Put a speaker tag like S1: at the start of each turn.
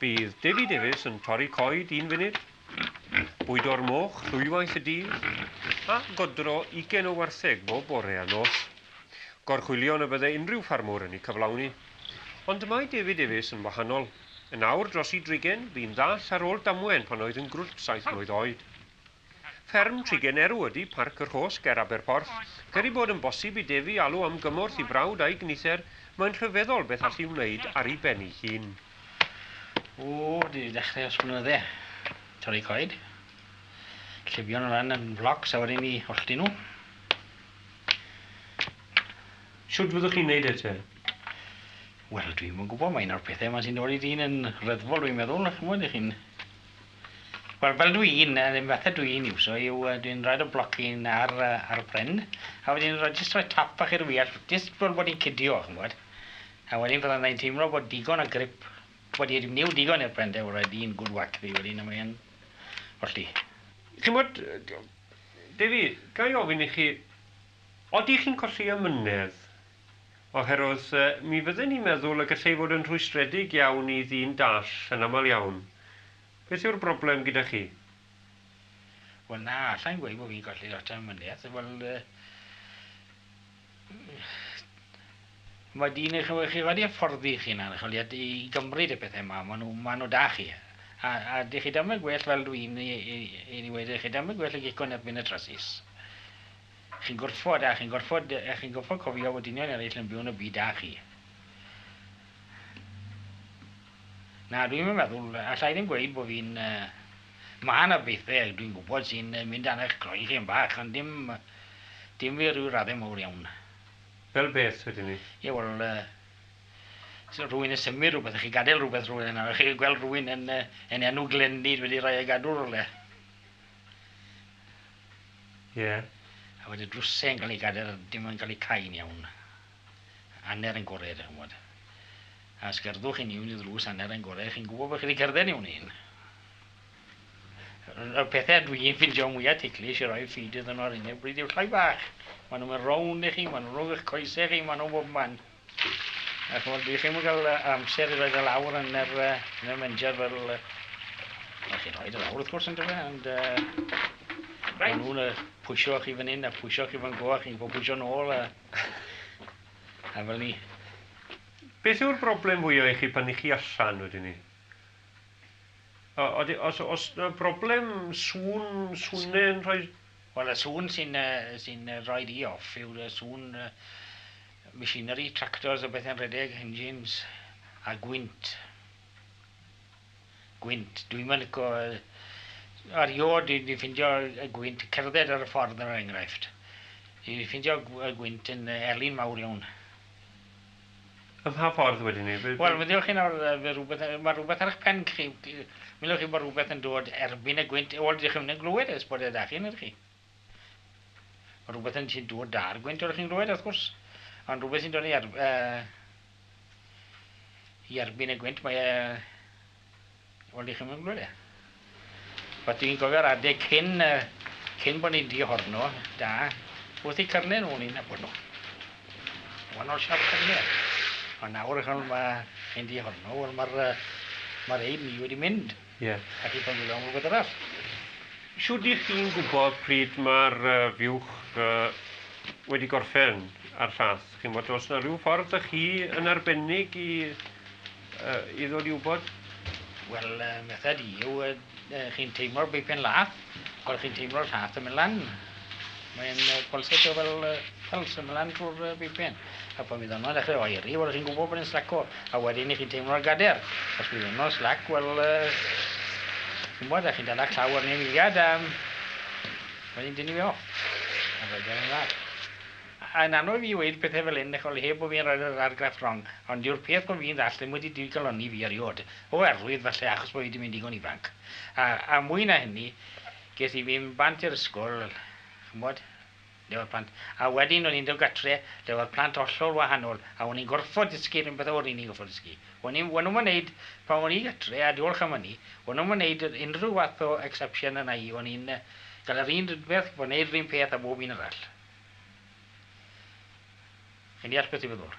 S1: Bydd Devi Davies yn torri coed un funud, bwydo'r moch ddwywaith y dydd, a godro ugain o wartheg bob bore a nos. Gorchwylion y bydde unrhyw ffarmwr yn eu cyflawni. Ond mae Devi Davies yn wahanol. Yn awr dros i drigen, bu'n ddall ar ôl damwen pan oedd yn grwt saith mlwydd oed. Fferm Trigenerw ydy Parc y Rhos ger Aberporth. Ger ei bod yn bosib i Defi alw am gymorth i frawd a'i gnither, mae'n rhyfeddol beth all hi wneud ar ei ben ei hun. O,
S2: dwi 'di dechrau ers blynydde. Torri coed. Llifio nhw lan yn flocs a wedyn 'ny hollti nhw.
S1: Shwt fyddwch chi'n neud e te?
S2: Wel, dwi'm yn gwybod, mae un o'r pethau 'ma sy'n dod i dyn yn ryddfol dwi'n meddwl, ch'mod, 'ych chi'n Wel fel dw i'n, yr un fath a dw i'n iwso yw yy dwi'n rhoid y blocyn ar yy ar y pren a wedyn rhoi jyst rhoi tap bach i'r wye jyst fel bod hi'n cydio chi'n gwbod. A wedyn fydda i'n teimlo bod digon o grip wedi dim new digon i'r pren de already yn good whack fi wedyn a mae e'n hollti. Ch'mod
S1: yy Dewi, ga i ofyn i chi, odi chi'n colli amynedd Oherwydd mi fydden i'n meddwl y gallai fod yn rhwystredig iawn i ddyn dall yn aml iawn. Beth yw'r broblem gyda chi?
S2: Wel na, alla i'm gweud bod fi'n colli lot o ymweliaeth, wel yy ma' dyn eich ymwel- chi wedi hyfforddi eich hunan ch'wel' i ad- i gymryd y pethe 'ma ma' nw ma' nw 'da chi a a dych chi dal yn gwell fel dwi'n i i i i weud i chi dal yn gwell y gecko yn erbyn y trasys. Chi'n gorfod, a chi'n gorfod, a chi'n gorfod cofio fod dynion eraill yn byw yn y byd â chi. Na, dwi'm yn meddwl, alla i ddim gweud bod fi'n... Mae 'na bethe dwi'n gwybod sy'n mynd dan eich croen chi yn bach, ond dim, dim fi ryw raddau mawr iawn. Fel beth,
S1: wedyn 'ny? Ie, wel,
S2: rhywun yn symud rhywbeth, a chi'n gadael rhywbeth rhywle nawr, a chi'n gweld rhywun yn enw Glendid wedi rhoi e i gadw rhywle.
S1: Ie. A wedyn
S2: drwsau yn cael ei gadael a dim yn cael eu cau'n iawn. Hanner yn gorau, dach chi'n gwybod. A os gerddwch chi'n iawn i ddrws hanner yn gorau, chi'n gwybod bod chi wedi cerdded iawn un. Y pethau dwi'n ffindio mwyaf ticklish i roi feed iddyn nhw ar hyn o bryd yw'r llai bach. Maen nhw'n mynd rownd i chi, maen nhw'n rhwng eich coesau chi, maen nhw bob man. A ch'mod, dwi ddim yn ga'l yy amser i roid e lawr yn yr yy yn y menjar fel yy wel chi'n rhoid e lawr wrth gwrs yndyfe ond yy ma' nw'n yy pwsio chi fyn 'yn a pwsio chi fan 'co a chi'n gwbo pwsio nôl a a fel 'ny.
S1: Beth yw'r broblem fwya i chi pan 'ych chi allan wedyn 'ny? O- odi- os o's 'na broblem sŵn, sŵne yn rhoi... Wel y sŵn
S2: sy'n yy sy'n yy rhoid i off yw'r yy sŵn yy Machinery, tractors a bethau'n rhedeg, engines, a gwynt. Gwynt. Dwi'm yn lico... Erioed dwi 'di ffindio y gwynt, cerdded ar y ffordd er enghraifft, dwi 'di ffindio y gwynt yn elyn mawr iawn.
S1: Ym mha ffordd wedyn 'ny? Wel, meddyliwch chi nawr, fe
S2: rywbeth, ma' rywbeth ar 'ych pen chi, meddyliwch chi bod rywbeth yn dod erbyn y gwynt, wel, dych chi'm yn glywed e, os bod e 'da chi, nid chi? Mae rhywbeth yn sy'n dod da'r gwynt oeddech chi'n glywed wrth gwrs, ond rhywbeth sy'n dod i, ar, uh, i erbyn y gwynt, mae e... Wel, ddech chi'n mynd glywed e. Wel, dwi'n gofio'r adeg cyn, uh, cyn bod ni'n dihorno, da, wrth i cyrnau nhw ni'n nabod nhw. Wannol siap cyrnau. Ond nawr, mae chi'n dihorno, wel mae'r uh, mae ein ni wedi mynd. Ie. A chi'n ffonio
S1: mewn rhywbeth
S2: arall. Shwd
S1: y'ch chi'n gwybod pryd mae'r fuwch wedi gorffen a'r llall? Chi'n bod, os yna rhyw ffordd ych chi yn arbennig i ddod i wybod? Wel,
S2: methu di yw chi'n teimlo'r beipen laff. Wel chi'n teimlo'r lla'th yn myn' lan. Mae'n yy pulsatio fel yy pulse yn myn' lan trw'r yy bipen. A pan fydd honno'n dechre oeri wel chi'n gwbo bod e'n slaco a wedyn 'ych chi'n teimlo'r gader. Os bydd honno slac wel yy chi'n wbod 'dach chi'n dala claw arni am eiliad a wedyn dynnu fe off. A wedyn yn dda. A yn anodd i fi weud pethe fel 'yn dych ch'mod heb bo' fi'n roi'r yr argraff rong ond yw'r peth bo' fi'n ddall' ddim wedi digalonni fi eriôd. O arwydd falle achos bo' fi 'di mynd digon ifanc. A mwy na hynny, ges i fy bant i'r ysgol, ch'mod, lle o'dd plant, a wedyn o'n i'n dod gatre lle o'dd plant hollol wahanol, a o'n i'n gorffod dysgu 'r un pethe o'n i'n gorffod dysgu. O'n i'm, o'n nw'm yn neud, pan o'n i gatre, a diolch am ynny, o'n nw'm yn neud unrhyw fath o exception arna i, o'n i'n ga'l yr un rydbeth, bo' neud 'r un peth a bob un arall. Chi'n deall beth dwi feddwl?